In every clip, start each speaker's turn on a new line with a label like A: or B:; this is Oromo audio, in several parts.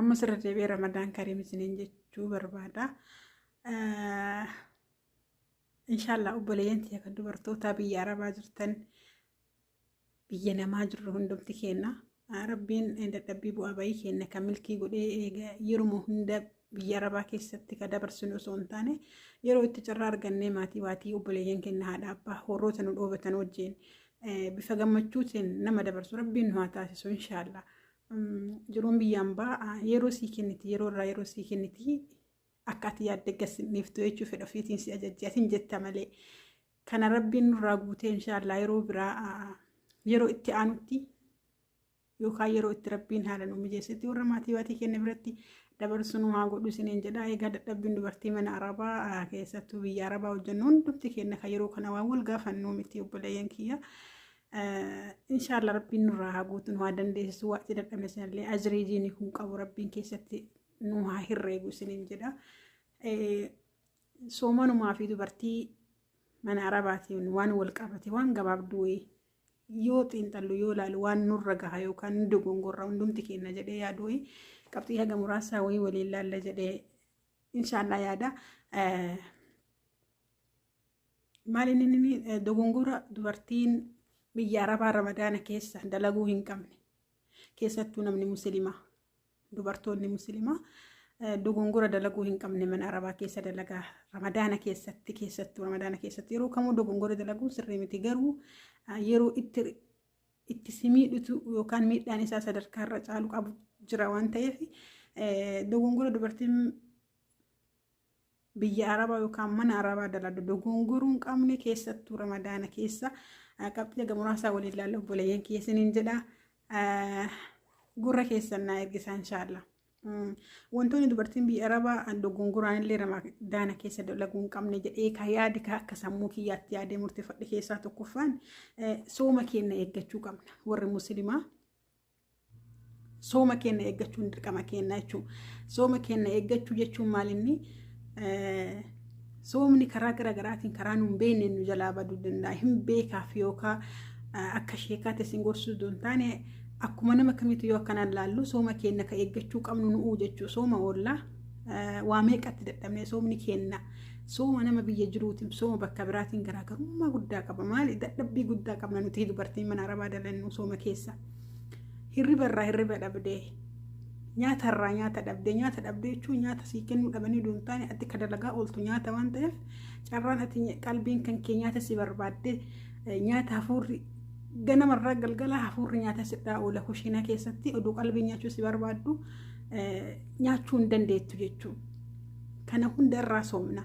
A: Ammas irra deebi'ee Ramadaan Kariim isiniin jechuu barbaada. Inshaallah obboleeyyan tiyya kan dubartootaa biyya Arabaa jirtan biyya namaa jirru hundumti keenna. Rabbiin dadhabbii bu'aa bayii keenna kan milkii godhee eega yeruma hunda biyya Arabaa keessatti ka dabarsinu osoo hin taane yeroo itti carraa argannee maatii waatii obboleeyyan keenna haadha abbaa horroota nu dhoobatan wajjin bifa gammachuutiin nama dabarsu rabbiin nu haa taasisu inshaallah. Jiruun biyya ambaa yeroo sii kenniti yeroo irraa yeroo sii kenniti akka ati yaadde gassinniiftu jechuu fedha ofiitiin si ajajje atin jetta malee kana rabbiin nurraa guutee inshaallah yeroo biraa yeroo itti aanutti yookaan yeroo itti rabbiin haala nu mijeessetti warra maatii waatii kenna biratti dabarsuun haa godhu isiniin jedha egaa dadhabbiin dubartii mana arabaa keessattuu biyya arabaa hojjennu hundumti kenna kan yeroo kana waan wal gaafannuu miti obboleeyyan kiyya Inshaallah rabbiin nurraa haa guutu nu haa dandeessisu waa itti dadhabne sanallee ajrii jiini kun qabu rabbiin keessatti nu haa hirreegu isiniin jedha. Soomanumaa fi dubartii mana arabaatiin waan wal qabate waan gabaabduu yoo xiinxallu yoo ilaalu waan nurra gaha yookaan nu dogongorra hundumti keenya jedhee yaadu wayii qabxii haga muraasaa wayii waliin laalla jedhee inshaallah yaada. Maali inni dogongora dubartiin biyya arabaa ramadaana keessa dalaguu hin qabne keessattuu namni musliimaa dubartoonni musliimaa dogongora dalaguu hin qabne mana arabaa keessa dalagaa ramadaana keessatti keessattuu ramadaana keessatti yeroo kamuu dogongora dalaguun sirrii miti garuu yeroo itti itti simiidhutu yookaan miidhaan isaa sadarkaa irra caalu qabu jira waan ta'eef dogongora dubartiin biyya arabaa yookaan mana arabaa daladu dogongoruu hin qabne keessattuu ramadaana keessa qabxii aga muraasaa waliin laalla obboleeyyan keessaniin jedha gurra keessan naa ergisaa inshaallah. Wantoonni dubartiin biyya arabaa dogongoraan illee ramadaana keessa dalaguu hin qabne jedhee ka yaade ka akka sammuu kiyyaatti yaadee murteeffadhe keessaa tokkoffaan sooma keenya eeggachuu qabna warri musliimaa. sooma keenya eeggachuun dirqama keenya jechuudha. Sooma keenya eeggachuu jechuun maal inni soomni karaa gara garaatiin karaa nu hin beekne nu jalaa baduu danda'a. Hin beekaaf yookaan akka sheekaatti isin gorsuu osoo hin taane akkuma nama kamiitu yoo akkanaan laallu sooma keenya ka eeggachuu qabnu nu'uu jechuudha. Sooma oollaa waa meeqatti dadhabnee soomni keenya Sooma nama biyya jiruutiin sooma bakka biraatiin garaagarummaa guddaa qaba. Maali dadhabbii guddaa qabna nuti dubartiin mana arabaa dalannu sooma keessa. Hirriba irraa hirriba dhabdee nyaata irraa nyaata dhabdee nyaata dhabdee jechuun nyaata sii kennuu dhabanii duun taane ati ka dalagaa ooltu nyaata waan ta'eef carraan ati qalbiin kan kee nyaata si barbaaddee nyaata hafuurri ganamarraa galgala hafuurri nyaata sidhaa oola kushiinaa keessatti oduu qalbii nyaachuu si barbaaddu nyaachuu hin dandeettu jechuudha. Kana hunda irraa soomna.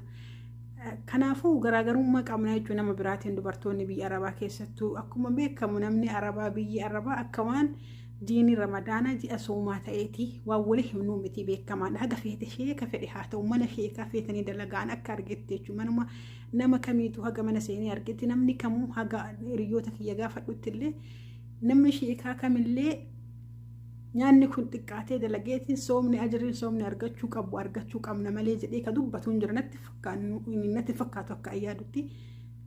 A: Kanaafuu garaagarummaa qabna jechuun nama biraatiin dubartoonni biyya arabaa keessattuu akkuma beekamu namni arabaa biyyi arabaa akka waan diinii ramadaanaa ji'a soomaa ta'eeti waan wali himnuu miti beekamaadha haga feete sheeka fedhe haa ta'u mana sheekaa feetanii dalagaan akka argetti jechuun manuma nama kamiitu haga mana seenee argetti namni kamuu haga hiriyoota kiyya gaafadhutti illee namni sheekaa kamillee nyaanni kun xiqqaatee dalageetiin soomni ajirriin soomni argachuu qabu argachuu qabna malee jedhee ka dubbatu hin jira natti fakkaannu- natti fakkaatu akka ayyaadutti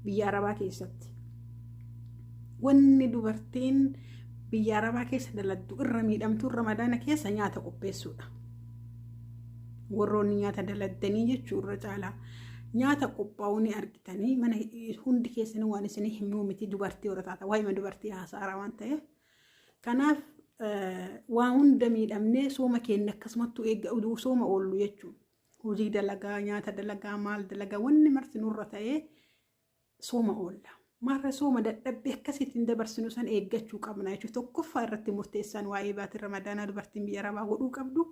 A: biyya arabaa keessatti wanni dubartiin biyya arabaa keessa daladdu irra miidhamtuu ramadaana keessa nyaata qopheessuudha warroonni nyaata daladdanii jechuu irra caalaa nyaata qophaa'uu ni argitanii mana hundi keessanii waan isinii himnuu miti dubartii warra taata waa'ima dubartii haasaara waan ta'eef Kanaaf waa hunda miidhamnee sooma keenya akkasumattuu eegga oduu sooma oollu jechuudha. Hojii dalagaa, nyaata dalagaa, maal dalagaa wanni marti nurra ta'ee sooma oolla. Marra sooma dadhabbii akkasiitiin dabarsinu san eeggachuu qabna jechuudha. Tokkoffaa irratti murteessaan waa'ee baatii ramadaanaa dubartiin biyya arabaa godhuu qabdu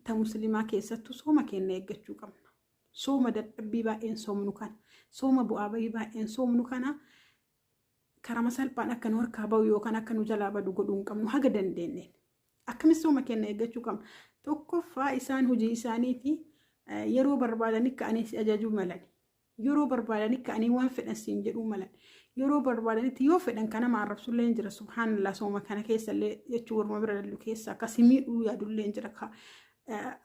A: ta musliimaa keessattuu sooma keenya eeggachuu qabna. Sooma dadhabbii baay'een soomnu kana. Sooma bu'aa bahii baay'een soomnu kana. karama salphaan akka nu harkaa ba'u yookaan akka nu jalaa badu godhuu hin qabnu haga dandeenyeen. Akka misooma keenya eeggachuu qabna. Tokkoffaa isaan hojii isaaniiti yeroo barbaadanii ka'anii si ajajuu malan. Yeroo barbaadanii ka'anii waan fedhan siin jedhuu malan. Yeroo barbaadanitti yoo fedhan kan nama arrabsullee hin jira. Subhaanallah sooma kana keessallee jechuun warma bira dallu keessa akkasii miidhuu yaadullee hin jira.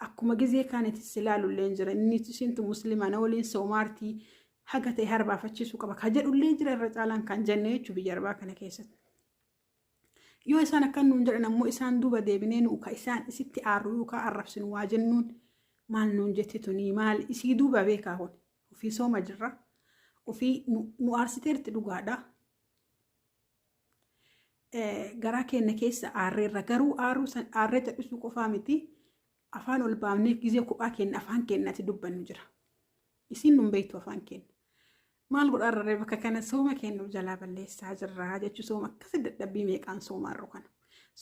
A: Akkuma gizee kaanitti si ilaalullee hin jira. Inni isintu muslimaa na waliin soomaartii. haga ta'e harbaafachiisuu qaba ka jedhullee jira irra caalaan kan jenne jechuun biyya arbaa kana keessatti. Yoo isaan akkan nuun jedhan ammoo isaan duuba deebinee nu ka isaan isitti aarru yookaan arrabsinu waa jennuun maal nuun jetti tunii maal isii duuba beekaa kun ofii sooma jirra ofii nu aarsiteerti dhugaadha. Garaa keenya keessa aarreerra garuu aarree cal'isuu qofaa miti Afaan ol baafnee gizee kophaa keenya afaan keenyatti dubbannu jira. Isin nun beektu afaan keenya. Maal godhaa irra bakka kana sooma keenya jalaa balleessaa jirraa jechuu sooma akkasi dadhabbii meeqaan soomaa irra kana.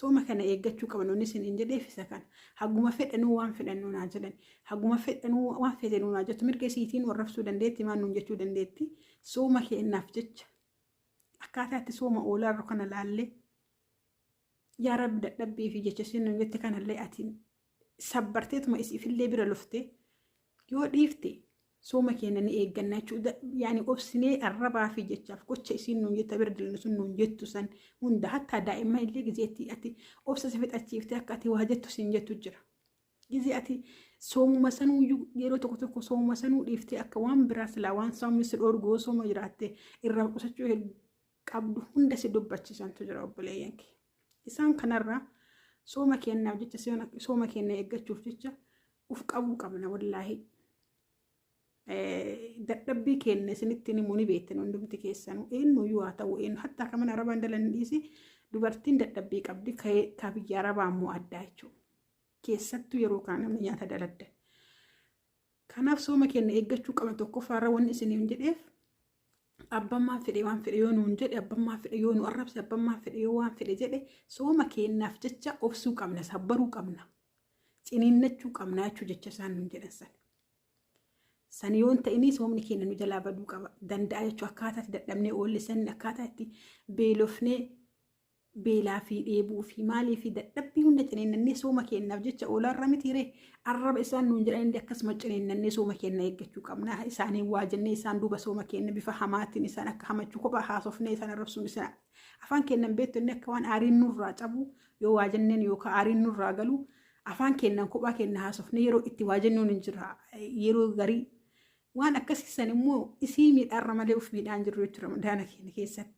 A: Sooma kana eeggachuu qabna inni isin hin jedheef isa kana. Haguma fedhanuu waan fedhannuu naa jedhan. Haguma fedhanuu waan fedhanuu naa jettu mirga isiitiin warrabsuu dandeetti maan nuun jechuu dandeetti. Sooma keenyaaf jecha akkaataa itti sooma oolaa irra kana laallee Yaa rabbi dadhabbii fi jecha isheen nu jette kanallee ati sabbarteetuma isiifillee bira lufte yoo dhiifte sooma keenya ni eegganna jechuudha. Yaani obsinee arrabaa fi jechaaf gocha isiin nuun jetta bira dallu sun nuun jettu san hunda hattaa daa'imman illee gizeetti ati obsa si fixachiifte akka ati waa jettu siin jettu jira. Gizee ati soomuma sanuu iyyuu yeroo tokko tokko soomuma sanuu dhiiftee akka waan biraa silaa waan soomni si dhoorgu yoo sooma jiraatte irraa qusachuu qabdu hunda si dubbachiisantu jira obboleeyyan kee isaan kanarraa sooma keenyaaf jecha sooma keenya eeggachuuf jecha uf qabuu qabna wallaahi dadhabbii keenya isinitti himu ni beektan hundumti keessanuu eenyuyyuu haa ta'u eenyu hatta akka mana arabaan dalan dhiisi dubartiin dadhabbii qabdi ka biyya arabaa immoo addaa jechuudha keessattuu yeroo kaan namni nyaata daladda Kanaaf sooma keenna eeggachuu qabna tokkoffaarra wanni isiniin jedheef abbammaan fedhe waan fedhe yoo nuun jedhe abbammaan fedhe yoo nu arrabse abbammaan fedhe yoo waan fedhe jedhe sooma keennaaf jecha obsuu qabna sabbaruu qabna ciniinnachuu qabna jechuu jecha isaan nuun jedhan san. San yoo hin ta'inii soomni keenya nu jalaa baduu qaba danda'a jechuu akkaataa itti dadhabnee oolle san akkaataa itti beelofnee beelaa fi dheebuu fi maalii fi dadhabbii hunda ciniinnannee sooma keenyaaf jecha oolaa irra mitiiree arraba isaan nuun jedhan illee akkasuma ciniinnannee sooma keenya eeggachuu qabna. Isaanii waa jennee isaan duuba sooma keenya bifa hamaatiin isaan akka hamachuu kophaa haasofnee isaan arrabsuun isaan afaan keenyaan beektu inni akka waan aariin nurraa cabu yoo waa jenneen yookaan aariin nurraa galu afaan keenyaan kophaa keenya haasofnee yeroo itti waa jennuun hin jira yeroo garii waan akkasiisan immoo isii miidhaarra malee of miidhaan jirru jechuudha daana keenya keessatti.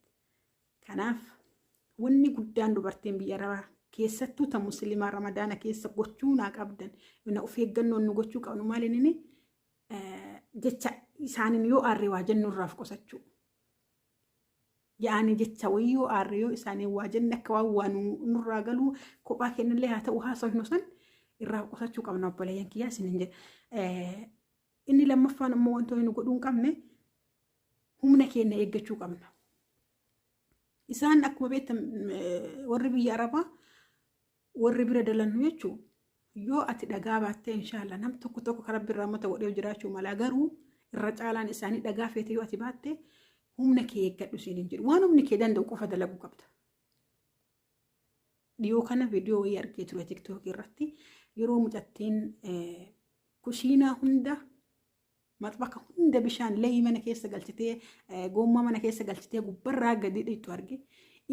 A: Kanaaf wanni guddaan dubartiin biyya arabaa keessattuu ta muslimaa ramadaana keessa gochuu naa qabdan na of eeggannoon nu gochuu qabnu maaliin inni jecha isaaniin yoo aarree waa jennu irraaf qusachuu. Yaa'anii jecha wayii yoo aarree yoo isaaniin waa jenne akka waan waa nurraa galuu kophaa kennillee haa ta'u haasofnu san irraa qusachuu qabna obboleeyyan kiyyaa isiniin jedha. Inni lammaffaan immoo wantoonni nu godhuu hin qabne humna keenya eeggachuu qabna. Isaan akkuma beektan warri biyya Arabaa warri bira dalannu jechuun yoo ati dhagaa baattee inshaallah nam tokko tokko karaa birraa mata godhee jiraachuu malaa garuu irra caalaan isaanii dhagaa feete yoo ati baattee humna kee eeggadhu siin hin jedhu waan humni kee danda'u qofa dalaguu qabda. Dhiyoo kana viidiyoo wayii argee ture tiktookii irratti yeroo mucattiin kushiinaa hunda maxbaka hunda bishaan leeyii mana keessa galchitee goommaa mana keessa galchitee gubbarraa gadi dhiittu arge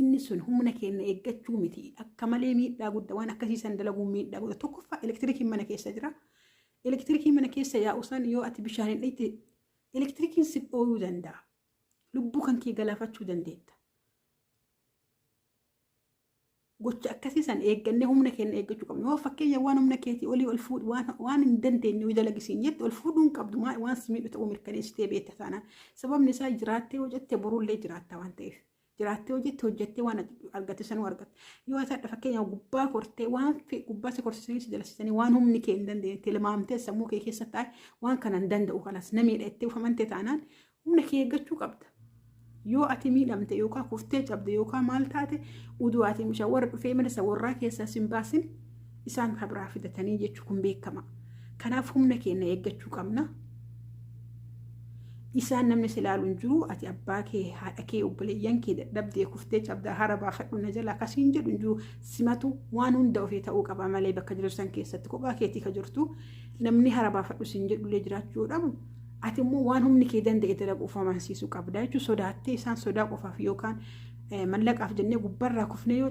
A: inni sun humna keenya eeggachuu miti akka malee miidhaa guddaa waan akkasiisan dalaguun miidhaa guddaa tokkoffaa elektirikiin mana keessa jira elektirikiin mana keessa yaa'usan yoo ati bishaan hin dhiitte elektirikiin si dhooyuu danda'a lubbuu kan kee galaafachuu dandeetta gocha akkasii san eeggannee humna keenya eeggachuu qabna. Yoo fakkeenya waan humna keetii olii ol fuudhu waan waan hin dandeenye yoo dalagisi hin jette ol fuudhuu hin qabdu maa- waan si miidhu ta'uu mirkaneessitee beekta taanaan. Sababni isaa jiraattee yoo jette borullee jiraatta waan ta'eef. Jiraattee yoo jette hojjettee waan argatte sanuu argatta. Yoo ta'e fakkeenya gubbaa kortee waan fe- gubbaa si korsisanii si jalasisanii waan humni kee hin dandeenye tilmaamtee sammuu kee keessa taa'e waan kana hin danda'u kanas namiidha itti ufamante taanaan Humna kee eeggachuu qabda. Yoo ati miidhamte yookaan kuftee cabde yookaan maal taate uduu ati misha warra dhufee mirsa warraa keessaa sin baasin isaan kan biraa fidatanii jechuun kun beekama. Kanaaf humna keenya eeggachuu qabna. Isaan namni si ilaalu hin jiru ati abbaa kee haadha kee obboleeyyan kee dadhabdee kuftee cabdaa hara baafadhu na jalaa kasiin jedhu hin jiru simatu waan hunda ofii ta'uu qaba malee bakka jirtu san keessatti kophaa keetii ka jirtu namni hara baafadhu sin jedhullee jiraachuu dhabu Ati immoo waan humni kee danda'e dalaguuf amansiisuu qabda jechuun sodaattee isaan sodaa qofaaf yookaan mallaqaaf jennee gubbarraa kufnee yoo